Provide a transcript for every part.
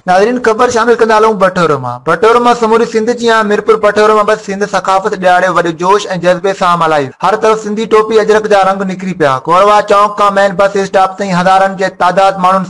ناظرين خبر شامل ڪندا هلون بٺورو مان بٺورو مان سموري سنڌ جي ها ميرپور بٺورو مان بس سنڌ ثقافت ڏياڙي وڏي جوش ۽ جذبي سان ملهائي هر طرف سنڌي ٽوپي اجرڪ جا رنگ نکري پيا گوروا چونڪ کان مين بس اسٽاپ تائين هزارن جي تعداد ماڻهن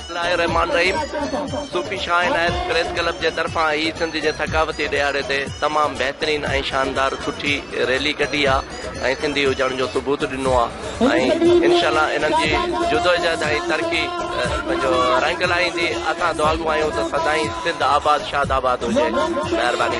بسم الله الرحمان الرحيم صوفي شاهه عنايت پريس ڪلب جي طرفان هي سنڌ جي ٿڪاوتي ڏهاڙي تي تمام بهترين ۽ شاندار سٺي ريلي ڪڍي آ ۽ سنڌي هجڻ جو ثبوت ڏنو آ ۽ انشاء الله انهن جي جدوجهد ۽ ترقي پنهنجو رنگ لائيندي اسان دعاگو آهيون ته سدائين سنڌ آباد شاد آباد هجي مهرباني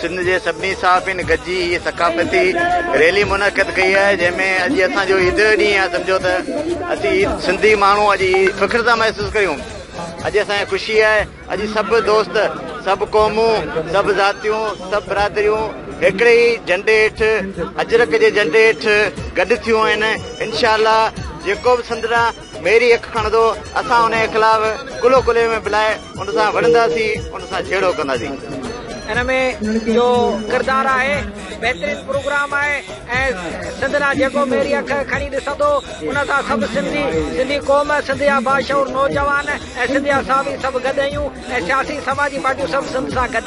سنڌ جي سڀني صحافين گڏجي هيء ثقافتي ريلي منعقد ڪئي آهي جنهن ۾ اڄ اسان جو عيد جو ڏينهن آهي سمجهو ته اسين عيد سنڌي ماڻهو اڄ فخر ٿا محسوس ڪريون اڄ اسان کي خوشي آهي اڄ سڀ دوست سڀ قومون سڀ ذاتيون سڀ برادريون هڪڙي ئي جهنڊي هيٺ اجرڪ جي جهنڊي هيٺ گڏ ٿيون آهن انشاء الله جيڪو به سندرا ميري اک کڻندو، اسان انهيء خلاف ڪلهو ڪلهي ۾ بلائي ان سان وڙهنداسين، ان سان جهيڙو ڪنداسين. ان ۾ جو ڪردار آهي بهترين پروگرام آهي ۽ سنڌ نا جيڪو ميري اک کڻي ڏسندو ان سان سڀ سنڌي سنڌي قوم سنڌ جا باشعور نوجوان اي سنڌي اسان به سڀ گڏ اهيون اي سياسي سماجي پارٽيون سڀ سنڌ سان گڏ.